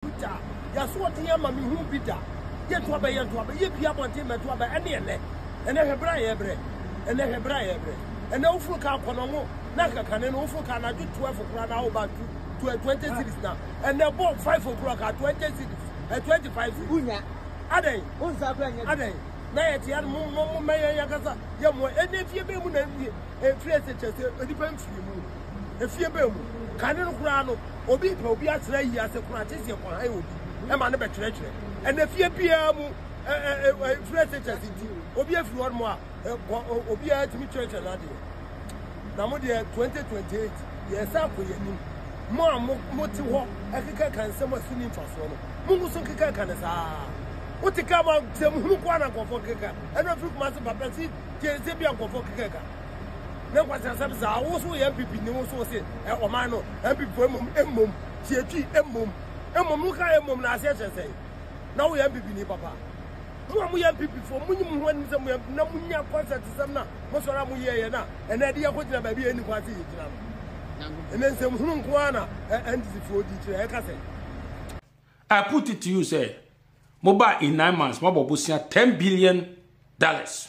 Peter, Y'asoɔden ama me hu bi da. Yɛ to abɛ, yɛ to abɛ, yɛ pie abɔnten mɛ to abɛ, ɛne ɛnɛ. Ɛnɛ hwɛ bra yɛ brɛ, ɛnɛ hwɛ bra yɛ brɛ. Ɛnɛ woforo ka akɔnɔ ngo, na nkakane no woforo ka anadwo 12 kora na awo ba tu to 20 cities na. Ɛnɛ bɔ 5 okura ka 20 cities, 25 cities. Unya. Adɛn. Unsa kura nyɛ. Adɛn. Na yɛ tia no mo mo mo mɛyɛ yɛ kasa yɛ mo ɛnɛ fie bɛ mu na ɛfie ɛfie ɛsɛ kyɛ sɛ onipa mfiri mu. efie bɛn mu. Kane no koraa no, obi repɛ obi atra ayie ase koraa, gye sɛ yɛkɔhan obi ma no bɛkyerɛkyerɛ. Ɛnna fie biara mu ɛ ɛ ɛ fire teachers nti, obi afiri hɔ nom a, obiara tumi kyerɛkyerɛ n'adeɛ. Na mo deɛ 2028 yɛsan kɔ yɛn anim. Mo a mo mo te hɔ ɛkeka ka nsɛm a so ni mfasoɔ no, mo nko so nkeka ka ne saa. Wote ka ma sɛm hunu koraa na nkɔfoɔ keka. Ɛnna firi kuma se papa si tie sɛ bi a nkɔfoɔ keka ka. ne nkwaseasɛm saa wo so yɛ npp ni wo so se ɔman no npp fo mmom mmom tiatwi mmom mmom wo ka mmom na aseɛ kyerɛ sɛe na wo yɛ npp ni papa mo a mo yɛ npp fo mo nyim ho anim sɛ mo yɛ na mo nya kɔnsɛt sɛm na mo sɔre a mo yɛ yɛ na ɛnɛ de yɛ kɔ gyina baabi yɛ ni kwan se yɛ gyina no ɛnɛ nsɛm hunu nko ara na ɛndisi fo di kyerɛ ɛka sɛ I put it to you sɛ mo ba in nine months mo abɔ bosia ten billion dollars.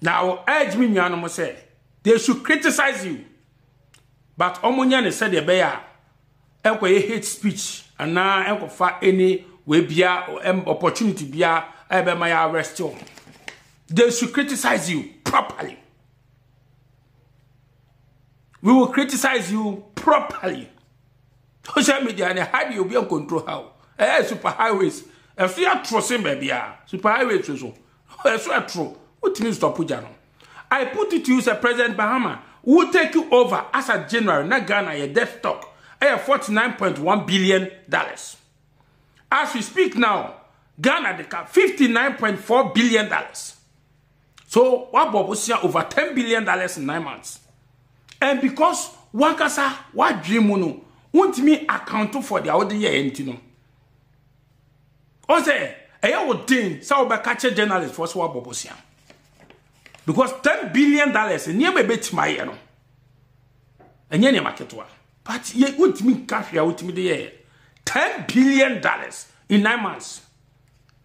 na I urge me nuanom sɛ they should criticize you but wɔnyɛ ne sɛdeɛ ɛbɛyɛ a ɛnkɔyɛ hate speech anaa ɛnkɔfa any wei bia opportunity bia a ɛbɛma yɛ arrest wɔn they should criticize you properly we will criticize you properly social media ne hide you be on control how eh super highways ɛso yɛ atoro sen baabi a super highways so ɛso ɛtoro wotumi stop gya no i put it to you sɛ president bahama will take you over as a general na ghana yɛ death stock ɛyɛ 49.1 billion dollars as we speak now ghana de ka 59.4 billion dollars so wabɔ bosia over 10 billion dollars in nine months and because wankasa wadwene mu no wontumi account for deɛ wode yɛ ɛnti no ɔn sɛ ɛyɛ wo den sɛ wobɛka kyɛ journalist foɔ sɛ woabɔ bosea because ten billion dollars nneɛma ɛbɛtumi ayɛ no ɛnyɛ nneɛma ketewa but yɛ wontumi nka hwee a wotumi de yɛyɛ ten billion dollars in nine months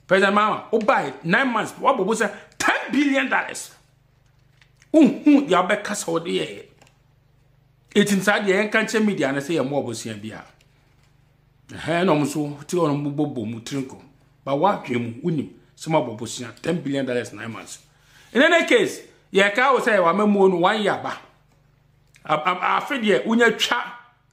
president mama wobae nine months woabɔ bosea ten billion dollars wohu deɛ wobɛka sɛ wode yɛyɛ ɛtim saa deɛ yɛnka nkyɛ media no sɛ yɛmmɔ ɔbosea biara Ɛhɛn na ɔmo so tse hɔ na ɔmo bɔ bɔ mu tsir nkɔm ba w'adwen mu wonim sɛ mabɔ bosea ten billion dollars nine months in any case yɛ kaa wo sɛ yɛ wama muo no one year ba afe deɛ wonya twa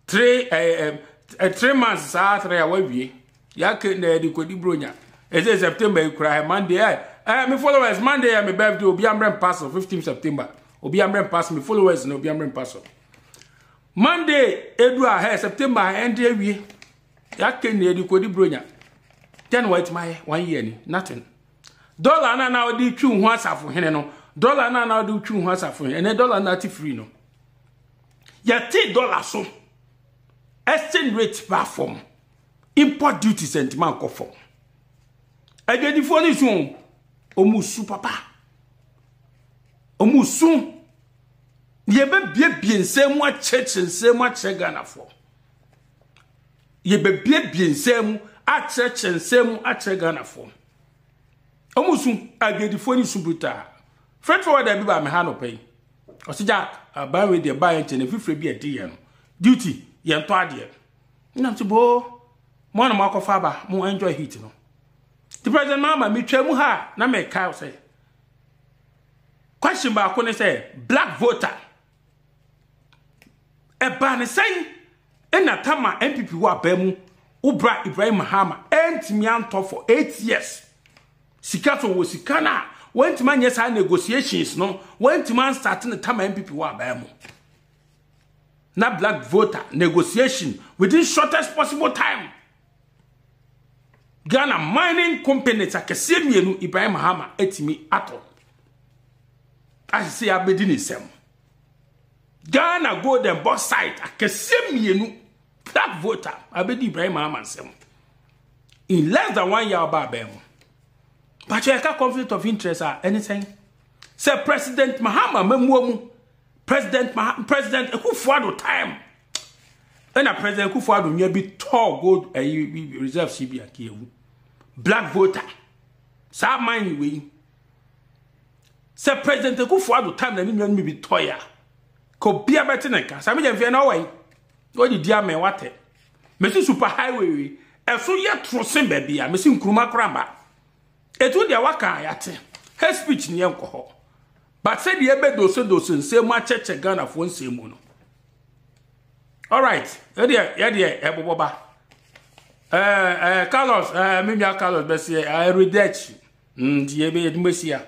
three ɛɛ ɛɛ three months saa three a wawie yɛake na yɛde kɔdi bronya ɛsɛ september yi koraa monday ɛ ɛ me followers monday yɛ me birthday obi amrɛ mpa so 15 september obi amrɛ mpa so me followers na obi amrɛ mpa so Monday edu a hɛ September a ɛnde awie. Yɛaka nni adi kɔdi bronya. Dɛn wɔatumi ayɛ? One year ni. Nothing. Dɔla no na wɔde twi ho asafo hene no. Dɔla no na wɔde twi ho asafo hene. Ɛnɛ dɔla no ate free no. Yɛte dɔla so. Exchange rate ba fam. Import duties ntoma nkɔ fam. Adwadifoɔ no su o, wɔn su papa. Wɔn su yɛbɛbiebie nsɛm mu akyerɛkyerɛ nsɛm mu akyerɛ Ghanafoɔ. Yɛbɛbiebie nsɛm mu akyerɛkyerɛ nsɛm mu akyerɛ Ghanafoɔ. Wɔn su adwadifoɔ no su brutaa. Fɛtɔ wɔ dɛbi ba meha nɔpɛ yi. Ɔsi Jack aban wei deɛ ba yɛ nkyɛn efifire bi ɛdi yɛn no duty yɛn tɔ adeɛ. Nna nso boo mo a na moakɔfa aba mo enjoy heat no. Nti President Mahama metwaa mu ha a na meka wo sɛ question baako ne sɛ black voter ɛbaa ne sɛn ɛna tama NPP wɔ abaa mu wo bra Ibrahim Mahama ɛntumi antɔ for eight years sika so wɔ sika no a wɔntumi anyɛ saa negotiations no wɔntumi anstate ne tama NPP wɔ abaa mu. na black voter negotiation within shortest possible time ghana mining companies akɛseɛ mmienu ibrahim hama atumi atɔ ahyehyɛ abɛdi ne nsam ghana gold and bauxite akɛseɛ mmienu black voter abɛdi ibrahim hama nsam in less than one year ɔba abɛn mu pakyɛ ɛka conflict of interest a ɛne sɛn sɛ president mahama mamuo mu President Maha President Akufo-Addo time ɛna President Akufo-Addo nya bi tɔɔ gold ɛyi eh, reserve si bi akewu black voter saa man yi wei sɛ President Akufo-Addo time na ne nua no bi tɔɛ a ka obia bɛte ne nka saa megya mfeɛ na ɔwɔ yi ɔde di ama watɛ mesi super highway wei ɛso yɛ toro se baabi a mesi nkuruma koraba Etu deɛ waka a yɛate. Hate speech neɛ nkɔ hɔ. But sɛdeɛ ɛbɛ dose dose nsɛm mu akyɛkyɛ Ghanafoɔ nsɛm mu no. Alright, ɛdeɛ yɛdeɛ ɛbobɔ ba. Ɛɛ ɛɛ Carlos ɛɛ me nua Carlos bɛseɛ ɛɛ redɛkyi. Nti yɛbɛ yɛdumɛsia.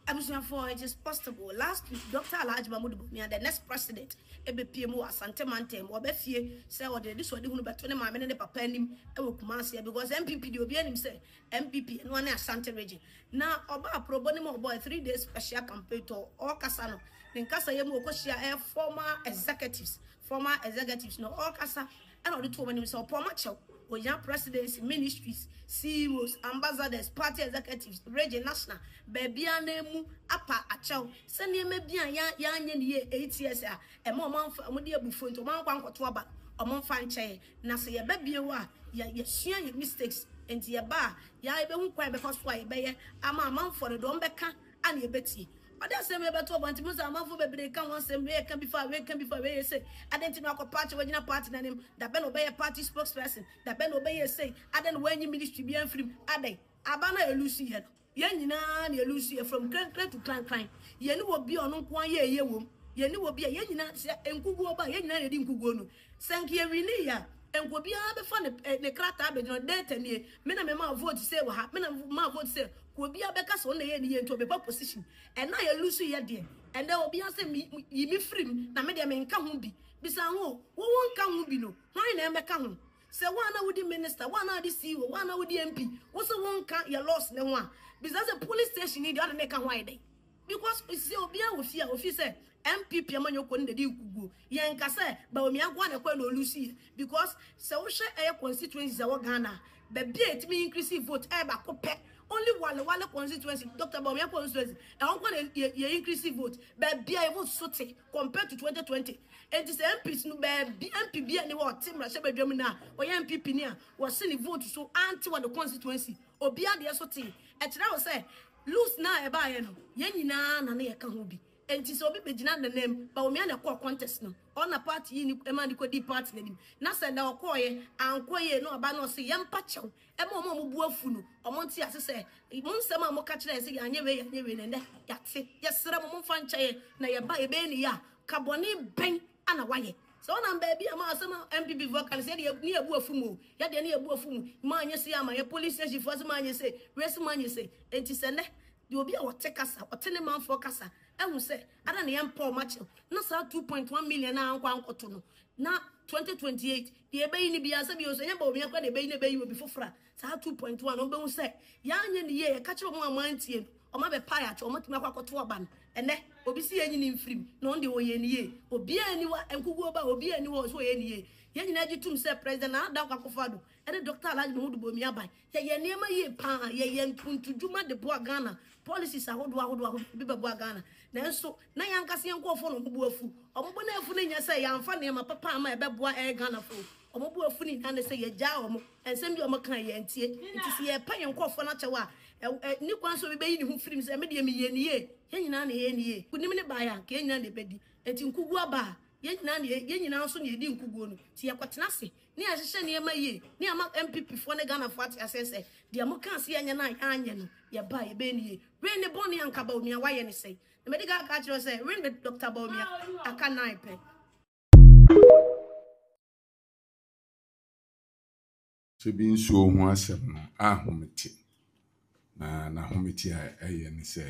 Abusuafoɔ it is possible last week Doctor Alhaji Mahmood Bawumia the next president ɛbɛpie mu wɔ Asante mantam mu ɔbɛ fie sɛ ɔde anisoadehunu bɛto ne maame ne ne papa anim ɛwɔ Kumasi because NPP deɛ obiara nim sɛ NPP ɛno ara ne Asante region na ɔba aprobo ne ma ɔbɔ a three days special campaign tɔ ɔɔkasa no ne nkasayɛ mu ɔkɔhyia ɛɛ former executives former executives no ɔɔkasa Ɛna ɔde too m'anim sɛ ɔpɔn m'akyɛw. Ohia Presidency, Ministries, CEOs, Ambassadors, Party Executives, Region, National, baabiara na emu apa akyɛw sɛ nneɛma bi a yɛanyɛ no yie eight years a ɛma wɔamfa, wɔde abufuo nti wɔankɔ ankɔto aba no, wɔmfa nkyɛ yɛn. Na sɛ yɛba bio a, yɛ, yɛasua yɛn mistakes, enti yɛba a, yɛa, yɛbɛhu kwan a yɛbɛfa so a yɛbɛyɛ ama amanfoɔ no de wɔbɛka a na yebetie. Ɔde asɛm wei bɛto abɔnten, Muhu sɛ amanfo bebree reka ho asɛm, wei reka bi fa ha, wei reka bi fa ha, wei yɛ sei. Adɛn nti na wakɔ party a wagyina party no anim? Da bɛn na ɔbɛyɛɛ party spokesperson? Da bɛn na ɔbɛyɛɛ sei? Adɛn na wanyi ministry biara amfiri mu? Adɛn? Aba no a yɛlusu yɛ no, yɛn nyinaa na yɛlusu yɛ, from krankran to krankran. Yɛne obi a ɔno nko ara yɛ eye wom. Yɛne obi a yɛn nyinaa, sɛ nkuguo ba a, yɛn nyinaa na yɛdi nkuguo no. Sɛ nka yɛ winii a, nka obiara bɛfa ne eh, ne krataa abɛgyina hɔ, data nie, me na memaa vote sei wɔ ha, me na memaa vote sei, ka obiara bɛka sɛ ɔno na ɛyɛ ne yie nti ɔbɛpa position. Ɛna a yɛlusu yɛ deɛ, ɛnɛ obiara sɛ me, me, yi me firi mu na me deɛ menka ho bi. Bisa ho, wo wonka ho bi no, hwan na ɛmɛka ho? Sɛ wo a na wodi minister, wo a na wode CEO, wo a na wodi MP, wo se wonka yɛ laws no ho a, bisa sɛ police station yi deɛ ɔne meka ho ayɛ dɛn? Because osie obia wɔ fie a ofi sɛ NPP amanyɔkuo no na ɛdi nkuguo. Yɛn nka sɛ Bawumia nko ara na ɛkɔɛ na ɔluusi yɛ because sɛ wohwɛ ɛyɛ constituencies a ɛwɔ Ghana a, baabi a ɛtumi increase vote ɛyɛ baako pɛ, only Wale Wale constituency, Doctor Bawumia constituency, ɛhɔ nko ara na yɛ increase vote. Baabi a yɛ vote so te compared to 2020. Ɛnti sɛ MPs no baabi MP bia nni hɔ a ɔte mmarahyɛbadwam no a ɔyɛ NPP ni a wɔse ne vote so ante wɔ ne constituency, obia deɛ so tee. Ɛkyerɛ wo sɛ Lose no a ɛbaeɛ no, yɛn nyinaa na na yɛka ho bi. Enti sɛ obi bɛgyina Nanaam, Bawumia na ɛkɔɔ contest no, ɔna party yii no maa no kɔdii party no anim. Na sɛ na ɔkɔeɛ ankɔ yie no, ɔba no ɔse yɛmpa kyɛw ma wɔn a wɔbu afu no, wɔnte ase sɛ mo nsɛm a moka kyerɛ yɛn sɛ yɛanyɛ wei, yɛanyɛ wei no, ɛnnɛ yɛate. Yɛsrɛ mo momfa nkyɛ yɛn na yɛba a yɛbɛyɛ no yie a, ka bɔne bɛn na wayɛ. Sɛ ɔnam baabi a ma asɛm a NPP foɔ ka no sɛ yɛde yɛ ne yɛbu afu mu o, yɛdeɛ ne yɛbu afu mu, ma anyɛ sei amma yɛ, polling station foɔ se ma anyɛ sei, wei se ma anyɛ sei. Enti sɛ nnɛ deɛ obi a ɔte kasa, ɔte ne manfoɔ kasa ahu sɛ ada na yɛmpa wɔn akyɛm na saa two point one million a ankɔ ankɔto no na twenty twenty eight deɛ ɛbɛyi no biara sɛ bio nso ɛnyɛ Bawumia koraa na ɛbɛyi no ɛbɛyi obi foforɔ a, Saa two point one no wɔn bɛhu sɛ yɛn anyɛ ne yie yɛka kyerɛ wɔn a wɔn antie no wɔn abɛpae akyɛ wɔn atumi akɔ akɔto ɔba no ɛnɛ obi si yɛn nyi ne mfirim na wɔn deɛ wɔyɛ ne yie obiara ni wa nkuguo ba obiara ni hɔ ɔsɛ wɔyɛ ne yie yɛn nyinaa gye tum sɛ President Nana Dankwa Akufo Addo ɛne Doctor Alhaji Mahudu Bawumia aban yɛyɛ nneɛma yie paa yɛyɛ ntontodwuma de boa Ghana policies ahodoɔ ahodoɔ ahodoɔ ebi bɛboa Ghana nanso na yɛn ankasa yɛn nkurɔfoɔ na wɔn bo afu wɔn bo na afu no nyɛ sɛ yɛamfa nneɛma papa ama ɛbɛboa ɛyɛ Ghanafoɔ Wɔn bo afu ne nna ne sɛ yɛagyaa wɔn, nsɛm bi a wɔka a yɛantie. Enti sɛ yɛrepa yɛn nkurɔfoɔ no akyɛw a, ɛnni kwan sɛ obi bɛyi ne ho firi mu sɛ, me deɛ meyɛɛ no yie, yɛn nyinaa na yɛyɛ no yie. Nkonim no baeɛ a, anka yɛn nyinaa na yɛbɛdi. Enti nkoguo aba a, yɛn nyinaa na yɛn nyinaa nso na yɛdi nkoguo no. Enti yɛkɔtena ase na yɛhyehyɛ nneɛma yie na yɛama NPPfoɔ ne Ghanafoɔ ate aseɛ sɛ, deɛ mokaa sɛ yɛnyɛ no a yɛanyɛ no, yɛba a yɛbɛyɛ no yie. Wei ne bɔne a anka Bawumia wayɛ ne sɛn? Na madi kan aka akyerɛ wo sɛ, wei na Dɔkta Bawumia aka nnan pɛ. Sɛ bi nsuo ho asɛm no ahomete na n'ahomete a ɛyɛ ne sɛ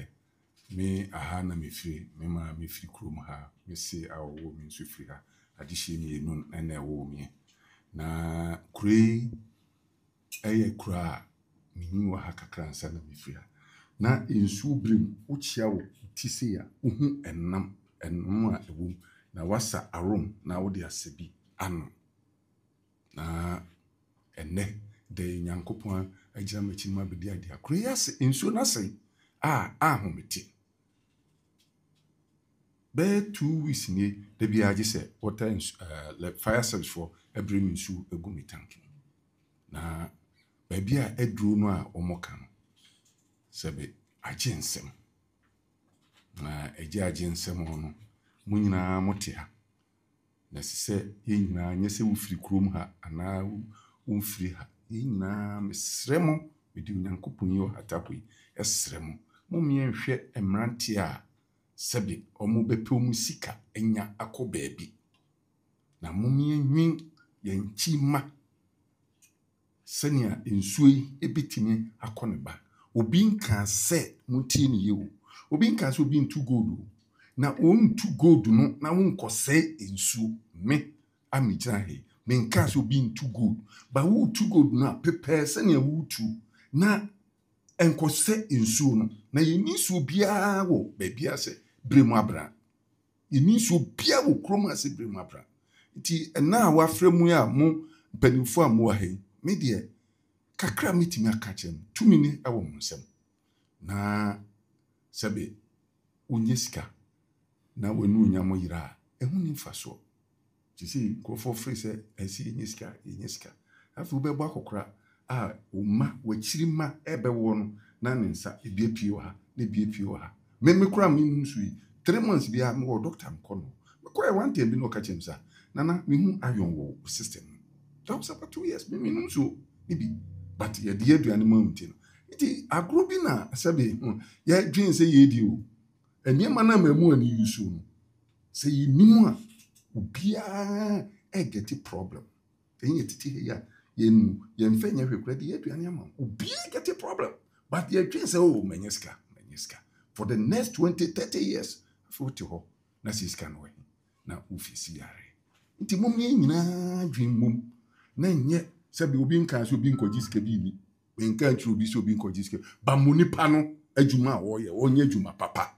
me aha na mefiri me maa mefiri kurom ha me se a ɔwɔ me nso firi ha adehyeɛ mmienu na ɛwɔ me na kuro yi ɛyɛ kura a menyin wɔ ha kakra ansa na mefiri ha. Na nsuo bere mu wokyea wo ti sei a wohu ɛnam ɛnam a ɛwɔ mu na woasa arom na wode asɛ bi ano. Na ɛnnɛ da yi Nyankopɔn agyina m'akyi na mabɛdi adeɛ a kuro yi ase nsuo no asɛe a anhomete. Bɛyɛ two weeks nie da biara gye sɛ water nsu ɛɛ eh, fire service foɔ ɛbere mi nsu egu mi tank mu na baabi a aduro no a wɔn ka no sɛ bɛ agye nsɛm na agye agye nsɛm no mo nyinaa mo te ha Na ɛsɛ sɛ yɛn nyinaa, nyɛ sɛ wofiri kurom ha anaa womfiri ha, yɛn nyinaa, mesrɛ mo, mede Onyankopɔn yi ɔhatapo yi srɛ mo, mommyɛ nhwɛ mmeranteɛ a sɛbe wɔbɛpɛ wɔn sika anya akɔ baabi, na mommyɛ nnwen yɛn nkyi mma. Sɛnea nsuo yi bɛtumi akɔ ne ba. Obi nkaa sɛ, montie no yie o, obi nkaa sɛ obi ntu gold o, na ɔntu gold no na wonkɔsɛe nsuo. Me a megyina ha yi, menkaa sɛ obi ntu gold, but woretu gold no a, prepare sɛnea woretuo na ɛnkɔsɛ nsuo no, na yɛnni nsuo biara wɔ baabiara sɛ berɛ mu abena. Yɛnni nsuo biara wɔ kurom ase berɛ mu abra. Nti ɛna a wafrɛ mo yi a mo mpaninfoɔ a mowɔ ha yi, me deɛ kakra a mɛtumi aka akyerɛ mo, tumi no ɛwɔ mo nsam. Na sɛbe wo nya sika na w'anuonyam yera a, ɛho nni mfasoɔ. Seesei nkurɔfoɔ fre sɛ ɛnsɛ yɛnya sika yɛnya sika. Afei wobɛbɔ akɔkora a wo mma wakyiri mma ɛɛbɛwoɔ no na ne nsa ebi apue wɔ ha na ebi apue wɔ ha. Me me koraa me num so yi three months biara me wɔ doctor me kɔ no me kɔɛ one time bi na ɔka kyerɛ me sɛ ah Nana me hu iron wɔ wo system mu that was about two years me me num so ne bi but yɛde yɛ aduane ma wo nti no nti agorɔ bi na sɛbe yɛ dwen sɛ yɛɛdi o. Nneɛma no a mmamu ani yi so no, sɛ yɛnnim a, obiara gɛte problem. Sɛ yɛn yɛtete ha yi a, yɛn yɛmfa nyɛ hwee koraa, yɛde yɛ aduane ama wo. Obiara gɛte problem. But yɛdwen sɛ, oh, manya sika, manya sika. For the next 20, 30 years, afei wote hɔ na sɛ sika no wɔ he? Na wofeesi yare. Nti mom yɛn nyinaa dwen mmom na nyɛ sɛdeɛ obi nkaa sɛ obi nkɔgye sika bi nni. Menka nkyerɛ obi sɛ obi nkɔgye sika, ba ma onipa no adwuma a ɔreyɛ ɔnyɛ adwuma papa.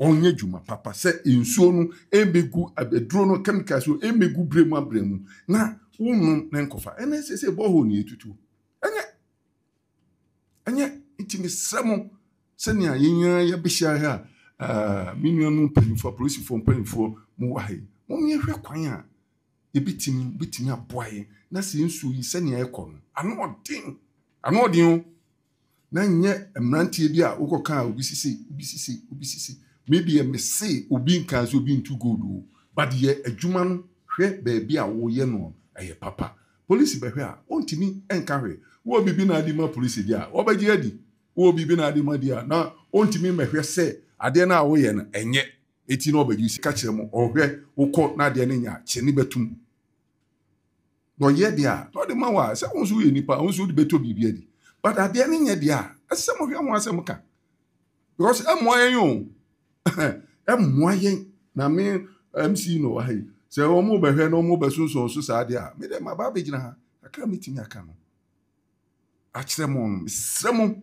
Ɔnyɛ adwuma papa sɛ nsuo no ɛmmɛgu aduro no chemicals no ɛmmɛgu berɛ mu aberɛ mu na wonom na nkɔfa. Ɛnna ɛsɛ sɛ borehole na yɛtutuo. Ɛnyɛ ɛnyɛ nti mesrɛ mo sɛnea yɛn nyinaa yɛbɛhyia ha a me nuanom mpanyinfoɔ apolisifoɔ mpanyinfoɔ mo wɔ ha yi mo yɛhwɛ kwan a Yɛbɛtumi, wobɛtumi aboa yɛn na sɛ nsuo yi sɛnea ɛrekɔ no, ano ɔden, ano ɔden o, na nyɛ mmeranteɛ bi a wokɔ kaa obi sise, obi sise, obi sise, me deɛ me se obi nkaa sɛ obi ntu gold o, but yɛ adwuma no, hwɛ baabi a woyɛ noɔ no, ɛyɛ papa, polisi bɛhwɛ a, wɔntumi nka hwee, wowɔ biribi na ade ma polisi deɛ a, wɔbɛgye adi, wowɔ biribi na ade ma deɛ a, na wɔntumi mmɛhwɛ sɛ adeɛ no a woyɛ no, ɛnyɛ. Eti na ɔbadwiri si ka kyerɛ mo, ɔhwɛ, wokɔ na adeɛ no nyɛ a, kyene bɛtom. Na ɔyɛ deɛ a, na ɔde ma wo a, sɛ wo nso woyɛ nipa a, wo nso wode bɛtɔ biribi adi. But adeɛ no nyɛ deɛ a, ɛsɛ sɛ mohwɛ ho asɛm ka. Because ɛmmoa yɛn o. ɛmmoa yɛn. Na me MC na ɔwɔ ha yi, sɛ wɔn bɛhwɛ na wɔn bɛsonsɔn so saa deɛ a, me deɛ maba abɛgyina ha, kakra a mɛtumi aka no, akyerɛ mo no, mesrɛ mo.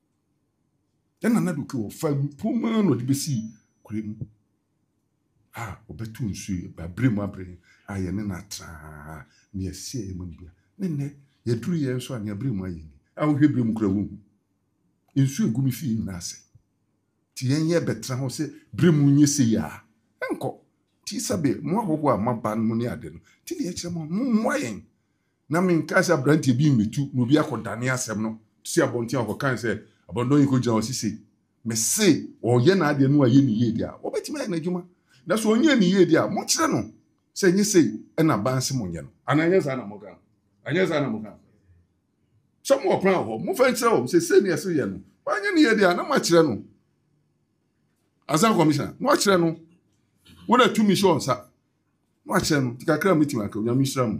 Ɛna na duke wɔ fa mpomma na ɔde bɛsi kure mu a ɔbɛto nsuo yi abere mu abere a yɛne no atraa ne yɛseɛ yɛ mu anibia ne nnɛ yɛduru yɛ nso a ne abere mu ayɛ ni a wohwɛ bere mu kura wo hu nsuo egu me fie nyinaa sɛ ti yɛn yɛ bɛtena hɔ sɛ bere mu nyɛ sɛ yɛ a ɛnkɔ ti sɛbe mo ahɔhoɔ a maba no ne ade no ti ne yɛkyerɛ mo mo mmoa yɛn Na menkae sɛ aberanteɛ bi mmɛtu na obi akɔdane asɛm no si abɔnten a ɔkɔkae sɛ abandon yi kɔgyina hɔ se sei. Mese ɔyɛ n'adeɛ na wayɛ no yie deɛ a, wɔbɛtumi ayɛ n'adwuma. Na sɛ ɔnyɛɛ no yie deɛ a, mokyerɛ no sɛ ɛnyɛ sei na aban se monyɛ no. Anaa ɛnyɛ saa na moka no? Ɛnyɛ saa na moka no? Sɛ mowɔ kwan wɔ hɔ, momfa nkyerɛ wɔn sɛ sei na ɛse yɛ no. Wanyɛ no yie deɛ a, na moakyerɛ no ansa, Commissioner, na wakyerɛ no. Wo na tumi hyɛ wo nsa. Wakyɛ no, kakra a mɛtumi aka, Onyame nhyira mu.